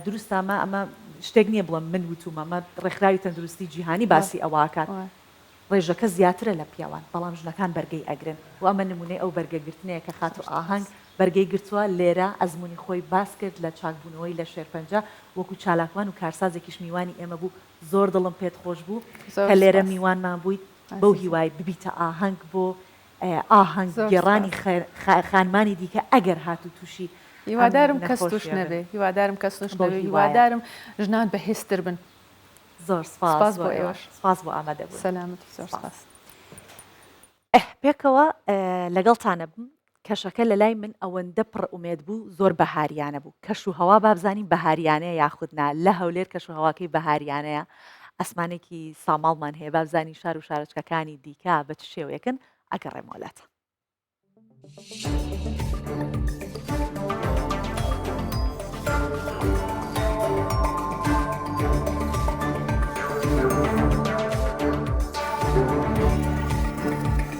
دروستە ئەمە ئەمە شتێک نیە بڵێم من وتومە ئەمە ڕێکخراوی تەندروستی جیهانی باسی ئەوە ئەکات ڕێژەکە زیاترە لە پیاوان بەڵام ژنەکان بەرگەی ئەگرن و ئەمە نمونەی ئەو بەرگە گرتنەیە کە خاتو ئاهەنگ بەرگەی گرتوە لێرە ئەزمونی خۆی باس کرد لە چاک بونەوەی لە شێرپەنجە وەکو چالاکوان و کارسازێکیش میوانی ئێمە بوو زۆر دڵم پێت خۆش بوو کە لێرە میوانمان بویت بەو هیوای ببیتە ئاهەنگ بۆ ئاهەنگ گێڕانی خانمانی دیکە ئەگەر هاتوو تووشی هیوادارم کەس توش نەبێ هیوادارم کەس نوش بەوی هیوادارم ژنان بەهێزتر بن زۆر سپاس بۆ ئێوەش سپاس بۆ ئامادە بوو سەلامەتی زۆر سپاس پێکەوە لەگەڵتانە بم کەشەکە لە لای من ئەوەندە پڕ ئومێد بوو زۆر بەهاریانە بوو کەش و هەوا بابزانین بەهاریانەیە یاخودنا لە هەولێر کەش و هەواکەی بەهاریانەیە ئاسمانێکی ساماڵمان هەیە بابزانین شار و شارچکەکانی دیکە بە چ شێوەیەکن ئەگەڕێمەوە لاتە.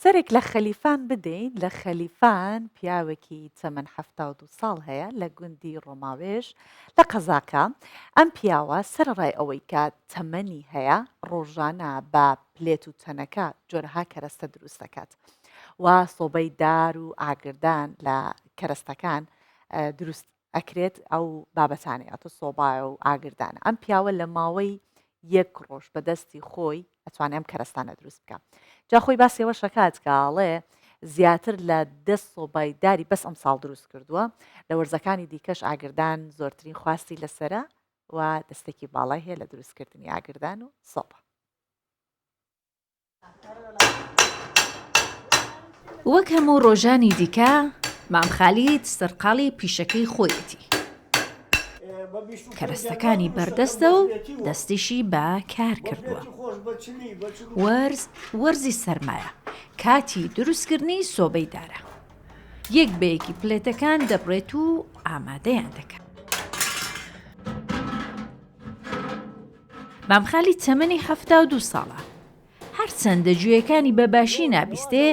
سەرێک لە خەلیفان بدەین، لە خەلیفان پیاوێکی تەمەن حەفتا و دوو ساڵ هەیە لە گوندی ڕۆماوێژ لە قەزاکە، ئەم پیاوە سەرەڕای ئەوەی کە تەمەنی هەیە ڕۆژانە بە پلێت و تەنەکە جۆرەها کەرەستە دروست دەکات و سۆبەی دار و ئاگردان لە کەرەستەکان دروست ئەکرێت ئەو بابەتانەی ئەتۆ سۆبایە و ئاگردانە ئەم پیاوە لە ماوەی یەک ڕۆژ بەدەستی خۆی ئەتوانێ ئەم کەرەستانە دروست بکە جا خۆی باسیەوە شکات کاڵێ زیاتر لە دە سۆبای داری بەس ئەم ساڵ دروست کردووە لە وەرزەکانی دیکەش ئاگردان زۆرترین خواستی لەسرە و دەستێکی باڵای هەیە لە دروستکردنی ئاگردان و سۆبە وەک هەموو ڕۆژانی دیکە مام خالید سەرقاڵی پیشەکەی خۆیەتی کەرەستەکانی بەردەستە و دەستیشی بە کار کردووە وەرز وەرزی سەرمایە کاتی دروستکردنی سۆبەی دارە یەک بەیەکی پلێتەکان دەبڕێت و ئامادەیان دەکەن مام خالید تەمەنی حەفتا و دوو ساڵە. هەرچەندە گوێیەکانی بە باشی نابیستێ،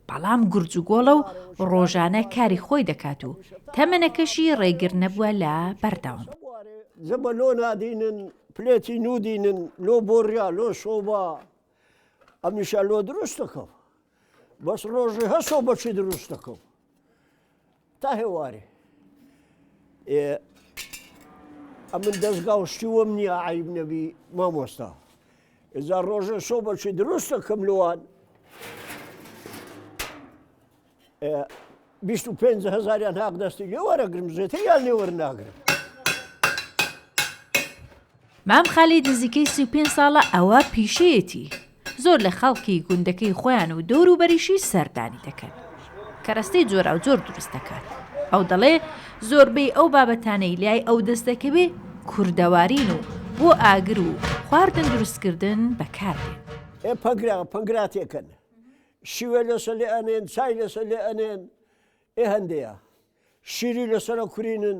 بەڵام گورج و گۆڵە و ڕۆژانە کاری خۆی دەکات و تەمەنەکەشی ڕێگر نەبووە لە بەردەوام. زەبە لۆ نادینن پلێتی نودینن لۆ بۆریا لۆ سۆبا ئەمیشە لۆ دروست دەکەم بەس ڕۆژی هەسۆ بەچی دروست دەکەم. تا هێوارێ ئێ ئەمن دەستگا و شتی وەم نییە عیب نەبی مامۆستا ئێجا ڕۆژە شۆ بەچی دروستە کەم لەوان بیست و پێنج هزاریان هاق دەستی لێ وەرەگرم زێتر یان لێوەر ناگرم مام خالید نزیکەی سی و پێنج ساڵە ئەوە پیشەیەتی، زۆر لە خەڵکی گوندەکەی خۆیان و دەوروبەریشی سەردانی دەکەن. کەرەستەی جۆراوجۆر دروست دەکات. ئەو دەڵێ زۆربەی ئەو بابەتانەی لای ئەو دەست دەکەوێ کوردەوارین و بۆ ئاگر و خواردن دروستکردن بەکاردێن. ئێ پەنگرا پەنگرا تێکەن، شیوێ لەسەر لێ ئەنێن، چای لەسەر لێ ئەنێن، ئێ هەندێیا شیری لەسەرە کورینن،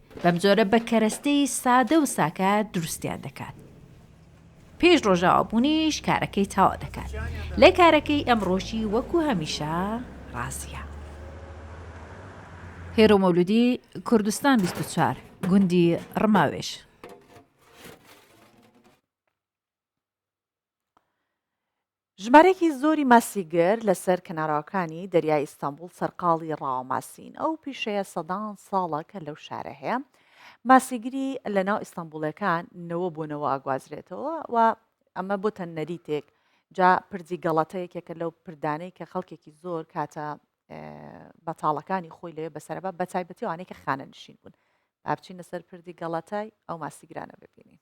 بەم جۆرە بە کەرەستەی سادە و ساکار دروستیان دەکات. پێش ڕۆژاوا بوونیش کارەکەی تاوا دەکات لە کارەکەی ئەمڕۆشی وەکو هەمیشە ڕاستە. هێرۆ مەولودی کوردستان 24 گوندی ڕماوێش ژمارەیەکی زۆری ماسیگر لەسەر کەناراوەکانی دەریای ئیستەنبوڵ سەرقاڵی ڕاوە ماسین، ئەو پیشەیە سەدان ساڵە کە لەو شارە هەیە، ماسیگری لەناو ئیستەنبوڵیەکان نەوە بۆ نەوە ئەگوازرێتەوە و ئەمە بۆتە نەریتێک، جا پردی گەڵەتە یەکێکە لەو پردانەی کە خەڵکێکی زۆر کاتە بەتاڵەکانی خۆی لەوێ بەسەرەبە بە تایبەتی وانەی کە خانە نشین بوون، بابچینە سەر پردی گەڵەتای ئەو ماسیگرانە ببینین.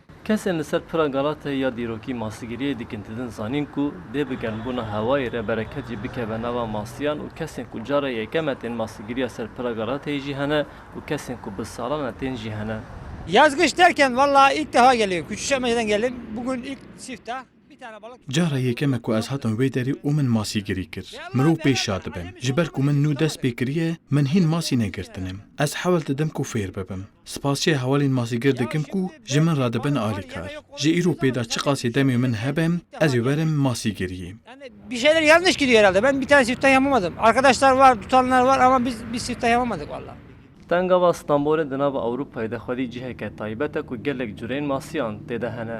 کەسێن لە سەر پرە گەڵاتە یا دیرۆکی ماسیگریەی دیکنددن زانین کو دێ بگەن بوونە هاوای رێ بەرەکە جی بکە بە ناوا ماسیان و کەسێن کو جارە یەکەمە تێن ماسیگریا سەر پرە گەڵاتەی جی هەنە و کەسێن کو بز ساڵانە تێن جی هەنە. یازگش تەرکەن وەڵا ئیک تەهاگەلێ کوچوشەمەیرەنگەلێ بگون ئیک سیفتە. جارە یەکەمە کو ئەز هاتم وەی دەری و من ماسی گری کرد مرۆ پێی شادبن جی بەر کو من نوو دەس پێ کریە من هین ماسی نەگرتنم ئەز حەول ددم کو فێر ببم سپاس چێ هەوەلین ماسیگر دکم کو جی من را دبن ئالی کار جی ئیرو پێدا چ قاسێ دەمێ من هەبم ئەزێ وەرم ماسی گریە. تەنگەڵا ستەمبۆلێ دناڤ ئەوروپای دەخوەلی جیهێکە تایبەتە کو گەلێک جورەیل ماسیان تێدا هەنە،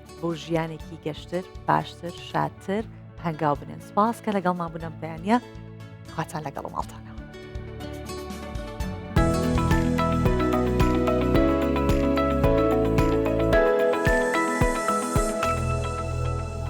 بۆ ژیانێکی گەشتر باشتر شادتر هەنگاو بنێن سپاس کە لەگەڵ مابوونم بەیانە خواتان لەگەڵ ماڵتان